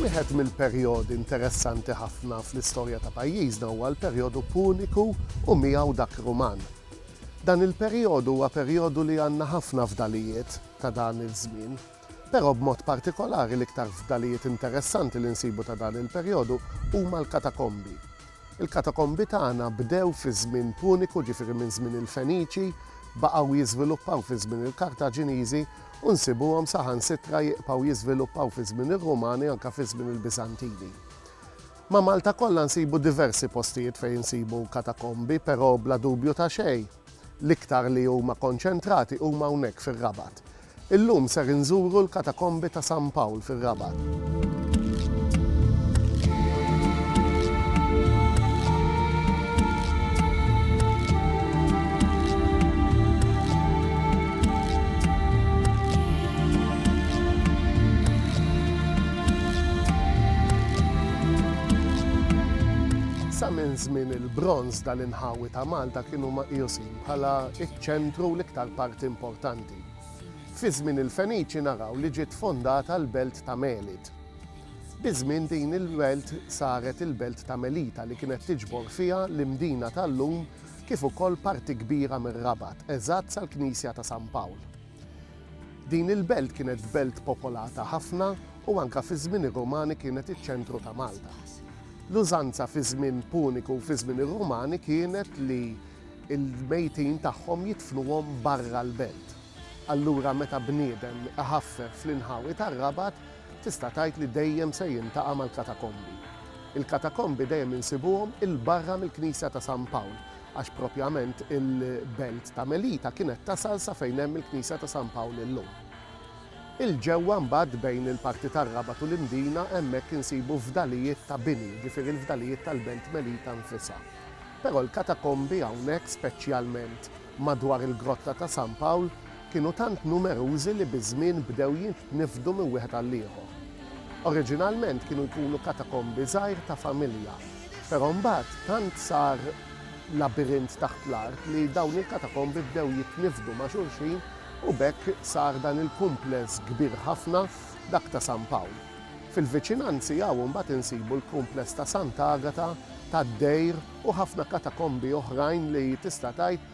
Wieħed mill-perjodi interessanti ħafna fl-istorja ta' pajjiżna huwa l-perjodu Puniku u miegħu dak Ruman. Dan il-perjodu huwa perjodu li għandna ħafna fdalijiet ta' dan iż-żmien. Però b'mod partikolari l-iktar fdalijiet interessanti li nsibu ta' dan il-perjodu huma l-katakombi. Il-katakombi tagħna bdew fi żmien Puniku, ġifieri minn żmien il-Feniċi, baqgħu jiżviluppaw fi żmien il-Kartaġiniżi u nsibuhom saħansitra jibqgħu jiżviluppaw fi żmien ir-Rumani anke fi żmien il-Biżantini. Ma' Malta kollha nsibu diversi postijiet fejn insibu katakombi, però bla dubju ta' xejn, L-iktar li huma konċentrati huma hawnhekk fir-Rabat. Illum ser inżuru l-Katakombi ta' San Pawl fir-Rabat. Sa minn żmien il-Bronż dal-inħawi ta' Malta kienu meqjusin bħala ċ-ċentru u l-iktar parti importanti. Fi żmien il-Feniċi naraw li ġiet fondata l-belt ta' Melid. Biż-żmien din il-belt saret il-belt ta' Melita li kienet tiġbor fiha l-Imdina tal-lum kif ukoll parti kbira mir-Rabat, eżatt sal-Knisja ta' San Pawl. Din il-belt kienet belt popolata ħafna u anke fiż-żmien ir-Rumani kienet iċ-ċentru ta' Malta. L-użanza fiż-żmien Puniku u fiż-żmien ir-Rumani kienet li l-mejtin tagħhom jidfnuhom barra l-belt. Allura meta bniedem iħaffef fl-inħawi tar-Rabat tista' tgħid li dejjem se jiltaqa' mal-katakombi. Il-katakombi dejjem insibuhom 'il barra mill-knisja ta' San Pawl għax propjament il-belt ta' Melita kienet tasal sa fejn hemm il-Knisja ta' San Pawl illum. 'il ġewwa mbagħad bejn il-parti tar-Rabat u l-Imdina hemmhekk insibu fdalijiet ta' bini, jiġifieri l-fdalijiet tal-belt Melita nfisha. Però l-katakombi hawnhekk speċjalment madwar il-Grotta ta' San Pawl, kienu tant numerużi li biż-żmien bdew jitniffdu minn wieħed għall-ieħor. Oriġinalment kienu jkunu katakombi żgħir ta' familja, però mbagħad tant sar labirint taħt l-art li dawn il-katakombi bdew jitniffdu ma' xulxin u b'hekk sar dan il-kumpless kbir ħafna, dak ta' San Pawl. Fil-viċinanzi hawn imbagħad insibu l-kumpless ta' Sant'Agata, tad-Dejr u ħafna katakombi oħrajn li tista' tgħid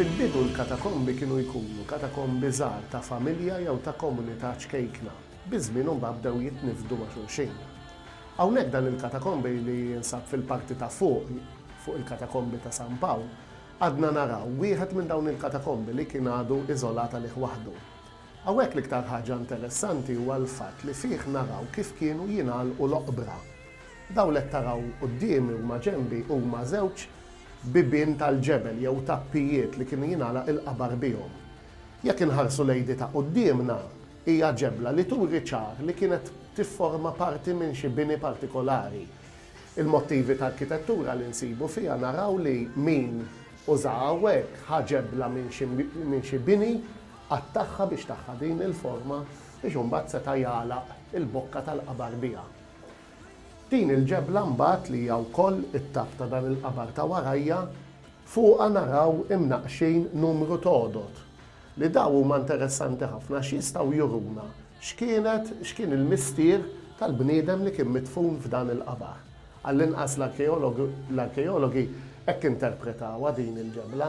Fil-bidu l-katakombi kienu jkunu katakombi żgħar ta' familja jew ta' komunità ċkejkna, biż-żmien imbagħad bdew jitniffdu ma' xulxin. Hawnhekk dan il-katakombi li jinsab fil-parti ta' fuq fuq il-katakombi ta' San Pawl għadna naraw wieħed minn dawn il-katakombi li kien għadu iżolat għalih waħdu. Hawnhekk l-iktar ħaġa interessanti huwa l-fatt li fih naraw kif kienu jingħalqu l-oqbra. Dawn li qed taraw quddiemi u ma' ġenbi huma żewġ bibien tal-ġebel jew tappijiet li kienu jingħalaq il-qabar bihom. Jekk inħarsu lejn di ta' quddiemna, hija ġebla li turi ċar li kienet tifforma parti minn xi bini partikolari. Il-mottivi ta' arkitettura li nsibu fiha naraw li min użaha hawnhekk ħa ġebla minn xi bini Qatt tagħha biex tagħha din il-forma biex imbagħad seta' jagħlaq il-bokka tal-qabar biha. Din il-ġebla mbagħad li hija wkoll it-tapp ta' dan il-qabar ta' warajja, fuqha naraw imnaqqxin numru t'għodod li dawn huma interessanti ħafna għax jistgħu juruna x'kienet, x'kien il-mistier tal-bniedem li kien midfun f'dan il-qabar. Għallinqas l-arkeologi hekk interpretawha din il-ġebla.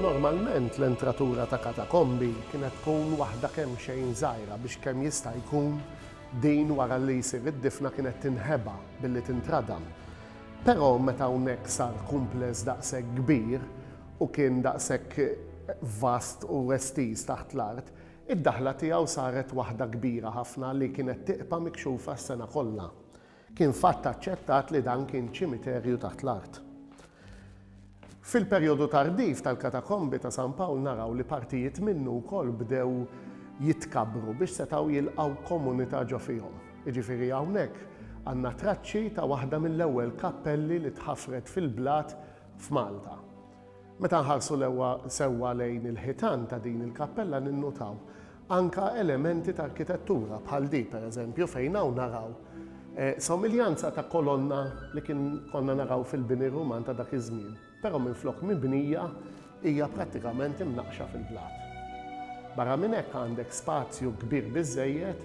Normalment l-entratura ta' katakombi kienet tkun waħda kemxejn żgħira biex kemm jista' jkun din wara li jsir id-difna kienet tinħeba billi tintradam. Però meta hawnhekk sar kumpless daqshekk kbir u kien daqshekk vast u estiż taħt l-art, Id-daħla tiegħu saret waħda kbira ħafna li kienet tiqpa' mikxufa s-sena kollha. Kien fatt aċċettat li dan kien ċimiterju taħt l-art. Fil-perjodu tardiv tal-katakombi ta' San Pawl naraw li partijiet minnu wkoll bdew jitkabbru biex setgħu jilqgħu komunità ġo fihom. Jiġifieri hawnhekk għandna traċċi ta' waħda mill-ewwel kappelli li tħafret fil-blat f'Malta. Meta nħarsu lewwa sewwa lejn il-ħitan ta' din il-kappella ninnutaw anka elementi ta' arkitettura bħal di pereżempju fejn hawn naraw somiljanza ta' kolonna li kien konna naraw fil-bini Ruman ta' dak iż-żmien, però minflok mibnija hija prattikament imnaqqxa fil-blat. Barra minn hekk għandek spazju kbir biżżejjed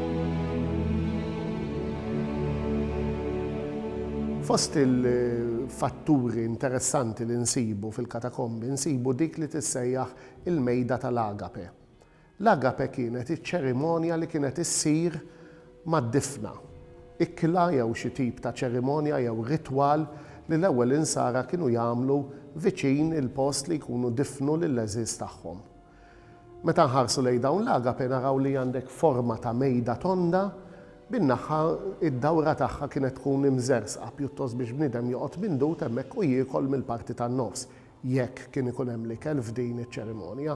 Fost il-fatturi interessanti li nsibu fil-katakombi nsibu dik li tissejjaħ il-mejda tal-agape. L-agape kienet iċ-ċerimonja li kienet issir mad-difna. Ikla jew xi tip ta' ċerimonja jew ritwal li l-ewwel insara kienu jagħmlu viċin il-post li jkunu difnu lill-għeżież tagħhom. Meta nħarsu lejn dawn l-agape naraw li għandek forma ta' mejda tonda bin-naħħa id-dawra tagħha kienet tkun imżerżqa pjuttost biex bniedem joqgħod mindut hemmhekk u jiekol mill-parti tan-nofs jekk kien ikun hemm l-ikel f'din iċ-ċerimonja.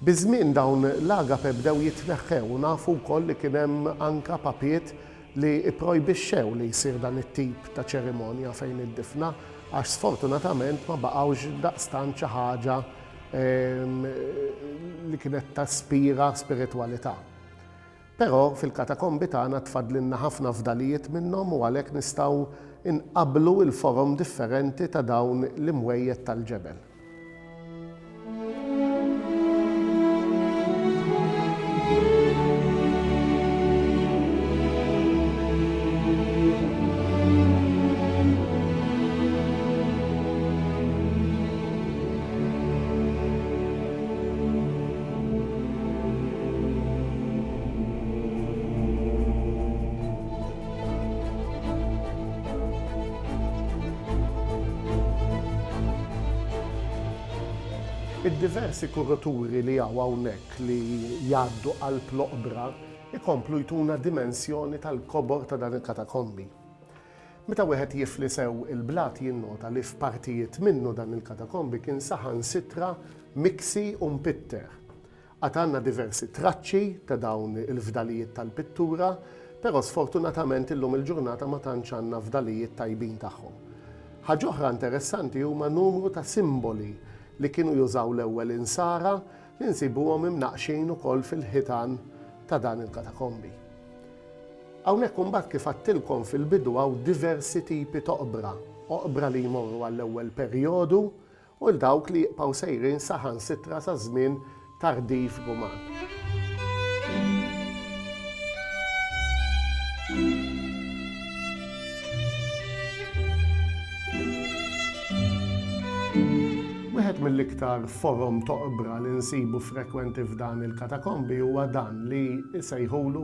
Biż-żmien dawn l-agape bdew jitneħħew u nafu wkoll li kien hemm anke papiet li pprojbixxew li jsir dan it-tip ta' ċerimonja fejn id-difna għax sfortunatament ma baqgħux daqstant xi ħaġa li kienet taspira spiritwalità. Però fil-katakombi tagħna tfaddlilna ħafna fdalijiet minnhom u għalhekk nistgħu nqabblu l-forom differenti ta' dawn l-imwejjed tal-ġebel. Id-diversi kuruturi li hawn hawnhekk li jgħaddu qalb l-oqbra jkomplu jtuna dimensjoni tal-kobor ta' dan il-katakombi. Meta wieħed jifli sew il-blat jinnota li f'partijiet minnu dan il-katakombi kien saħansitra miksi u mpitter. Għad għandna diversi traċċi ta' dawn il-fdalijiet tal-pittura, però sfortunatament illum il-ġurnata ma tantx għandna fdalijiet tajbin tagħhom. Ħaġ'oħra interessanti huma numru ta' simboli li kienu jużaw l-ewwel Insara li nsibuhom imnaqqxin ukoll fil-ħitan ta' dan il-katakombi. Hawnhekk imbagħad kif għadtilkom fil-bidu hawn diversi tipi t'oqbra, oqbra li jmorru għall-ewwel perjodu u dawk li jibqgħu sejrin saħansitra sa żmien tardiv Ruman. Wieħed mill-iktar forom t'oqbra li nsibu frekwenti f'dan il-katakombi huwa dan li jsejħulu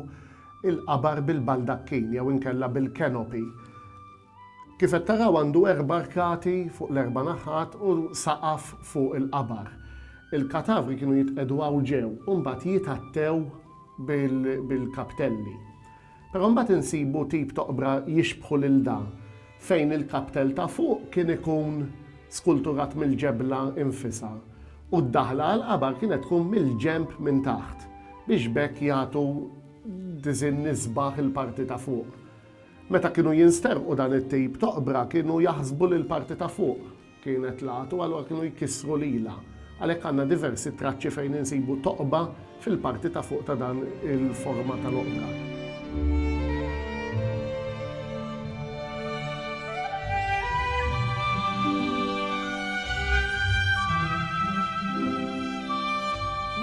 l-qabar bil-baldakkin jew inkella bil-canopy. Kif qed taraw għandu erba' arkati fuq l-erba' naħat u saqaf fuq il-qabar. Il-katavri kienu jitqiegħdu hawn ġew u mbagħad jitgħattew bil-kaptelli. Però mbagħad insibu tip t'oqbra jixbħu lil da fejn il-kaptell ta' fuq kien ikun skulturat mill-ġebla infisha u d-daħla għall-qabar kienet tkun mill-ġenb minn taħt biex b'hekk jagħtu diżinn isbaħ il-parti ta' fuq. Meta kienu jinsterqu dan it-tip t'oqbra kienu jaħsbu li l-parti ta' fuq Kienet l-għatu, allura kienu jkissru lilha. Għalhekk għandna diversi traċċi fejn insibu toqba fil-parti ta' fuq ta' dan il-forma ta' loqda.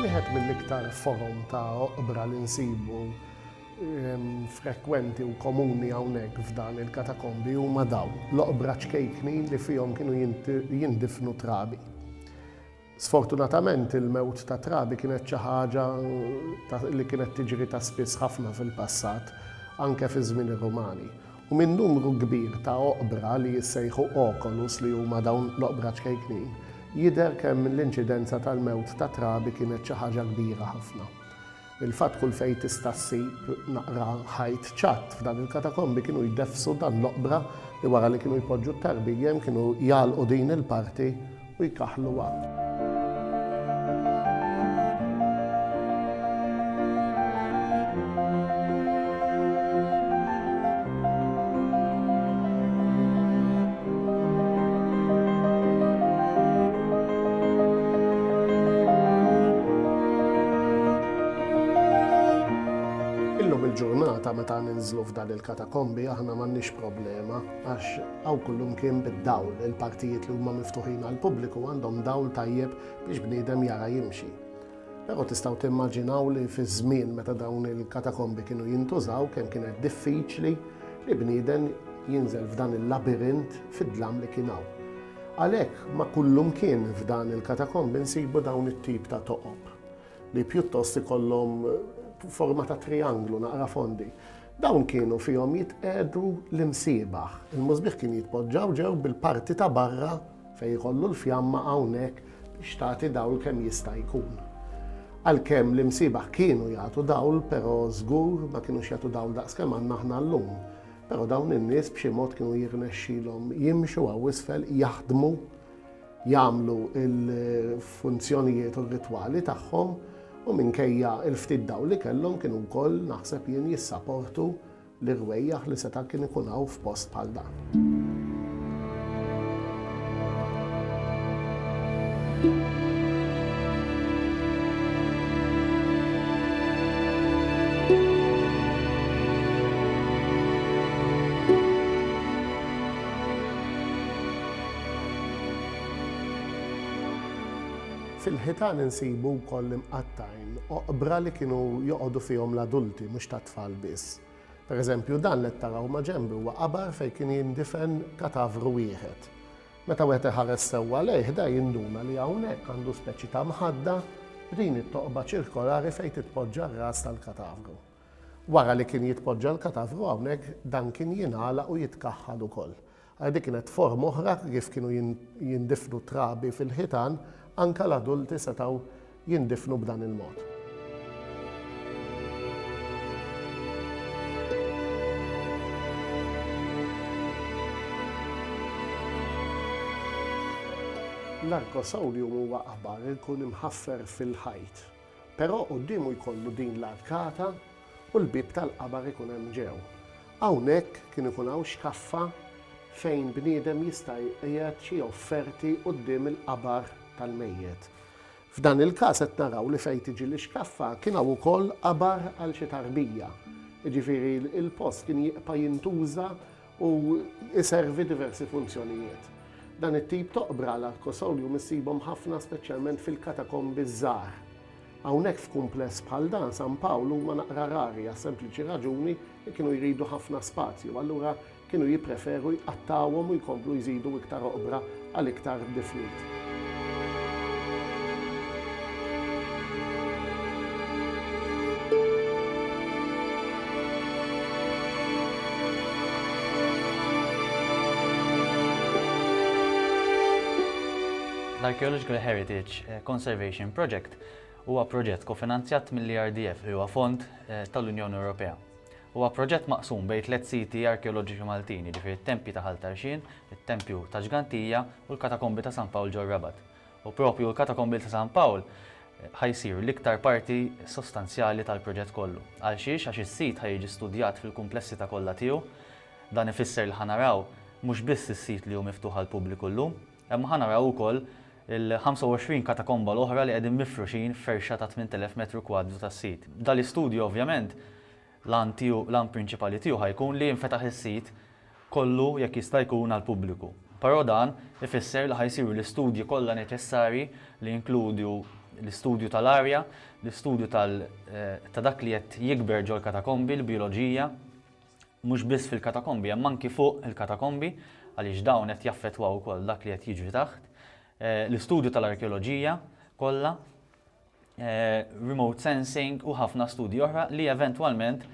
Wieħed mill-iktar forom ta' oqbra li nsibu frekwenti u komuni hawnhekk f'dan il-katakombi huma dawn, l-oqbra ċkejknin li fihom kienu jindifnu trabi. Sfortunatament il-mewt ta' trabi kienet xi ħaġa li kienet tiġri ta' spiss ħafna fil-passat, anke fi żmien ir-Rumani. U minn numru kbir ta' oqbra li jissejħu oculus li huma dawn l-oqbra ċkejknin, jidher kemm l-inċidenza tal-mewt ta' trabi kienet xi ħaġa kbira ħafna. Il-fatt kull fejn tista' ssib naqra ħajt ċatt f'dan il-katakombi kienu jdeffsu dan l-oqbra li wara li kienu jpoġġu t-tarbijiem kienu jagħlqu din il-parti u jkaħħluha. Illum il-ġurnata meta ninżlu f'dan il-katakombi aħna m'għandniex problema għax hawn kullimkien bid-dawl. Il-partijiet li huma miftuħin għall-pubbliku għandhom dawl tajjeb biex bniedem jara jimxi. Però tistgħu timmaġinaw li fiż-żmien meta dawn il-katakombi kienu jintużaw kemm kienet diffiċli li bnieden jinżel f'dan il-labirint fid-dlam li kien hawn. Għalhekk ma' kullumkien f'dan il-katakombi nsibu dawn it-tip ta' toqob li pjuttost ikollhom forma ta' trijanglu naqra fondi. Dawn kienu fihom jitqiegħdu l-imsiebaħ. Il-musbieħ kien jitpoġġaw ġew bil-parti ta' barra Fejn ikollu l-fjamma hawnhekk biex tagħti dawl kemm jista' jkun. Għalkemm l-imsiebaħ kienu jagħtu dawl, però żgur ma kinux jagħtu dawl daqs kemm għandna aħna llum. Però dawn in-nies b'xi mod kienu jirnexxilhom jimxu hawn isfel, jaħdmu, jagħmlu l-funzjonijiet u r-ritwali tagħhom u minkejja l-ftit dawl li kellhom kienu wkoll, naħseb jien, jissaportu L-irwejjaħ li seta' kien ikun hawn f'post bħal dan. Fil-ħitan insibu wkoll l-imqatta'. Oqbra li kienu joqogħdu fihom l-adulti, mhux tat-tfal biss. Per eżempju, dan li qed taraw ma' ġenbi huwa qabar fejn kien jindifen katavru wieħed. Meta wieħed iħares sewwa lejh, da jinduna li hawnhekk għandu speċi ta' mħadda b'din it-toqba ċirkolari fejn titpoġġa r-ras tal-katavru. Wara li kien jitpoġġa l-katavru hawnhekk, dan kien jingħalaq u jitkaħħal ukoll. Għal dik kienet forma oħra kif kienu jindifnu t-trabi fil-ħitan, anke l-adulti setgħu jindifnu b'dan il-mod. L-Arcosolium huwa qabar li jkun imħaffer fil-ħajt. Però quddiemu jkollu din l-arkata u l-bieb tal-qabar ikun hemm ġew. Hawnhekk kien ikun hawn xkaffa fejn bniedem jista' jqiegħed xi offerti quddiem il-qabar tal-mejjet. F'dan il-każ qed naraw li fejn tiġi l-ixkaffa kien hawn ukoll qabar għal xi tarbija. Jiġifieri l-post kien jibqa' jintuża u jservi diversi funzjonijiet. Dan it-tip t'oqbra l-Archosaurium issibhom ħafna speċjalment fil-katakombi ż-żgħar. Hawnhekk f'kumpless bħal dan San Pawl huma naqra rari għas-sempliċi raġuni li kienu jridu ħafna spazju allura kienu jippreferu jqattgħuhom u jkomplu jżidu iktar oqbra għal iktar difniet. L-Archaeological Heritage eh, Conservation Project huwa proġett kofinanzjat mill-ERDF li huwa fond eh, tal-Unjoni Ewropea. Huwa proġett maqsum bejn tliet siti arkeoloġiċi Maltin, jiġifieri t-tempji ta' Ħal Tarxien, it-tempju ta' Ġgantija u l-katakombi ta' San Pawl ġor-Rabat. U proprju l-katakombil ta' San Pawl ħa jsir l-iktar parti sostanzjali tal-proġett kollu. Għalxiex? Għax is-sit ħa jiġi studjat fil-kumplessità kollha tiegħu. Dan ifisser li ħa naraw mhux biss is-sit li hu miftuħ għall-pubbliku llum, Imma ħa naraw ukoll il-25 katakomba l-oħra li qegħdin mifruxin f'ferxa ta' 8,000 metru kwadru tas-sit. Dan l-istudju ovvjament l-għan tiegħu, l-għan prinċipali tiegħu ħa jkun li jinfetaħ is-sit kollu jekk jista' jkun għall-pubbliku. Però dan ifisser li ħa jsiru l-istudji kollha neċessarji li jinkludu l-istudju tal-arja, l-istudju tal, ta' dak li qed jikber ġol-katakombi, l-bijoloġija, Mhux biss fil-katakombi hemm anki fuq il-katakombi għaliex dawn qed jaffettwaw ukoll dak li qed jiġri taħt. L-istudju tal-arkeoloġija kollha, remote sensing u ħafna studji oħra li eventwalment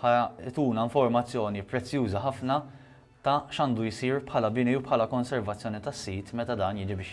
ħa jtuna informazzjoni prezzjuża ħafna ta' x'għandu jsir bħala bini u bħala konservazzjoni tas-sit meta dan jiġi biex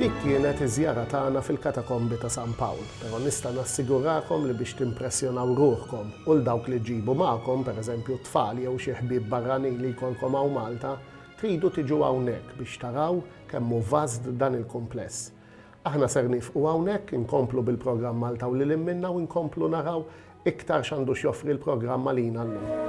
Dik kienet iż-żjara tagħna fil-Katakombi ta' San Pawl, però nista' nassigurakom li biex timpressjonaw ruħkom u 'l dawk li ġġibu magħkom, pereżempju t-tfal jew xi ħbieb barranin li jkollkom hawn Malta, tridu tiġu hawnhekk biex taraw kemm hu vast dan il-kumpless. Aħna ser niefqu hawnhekk, inkomplu bil-programm Malta u lil hinn minnha u nkomplu naraw iktar x'għandu x'joffri l-programm għalina llum.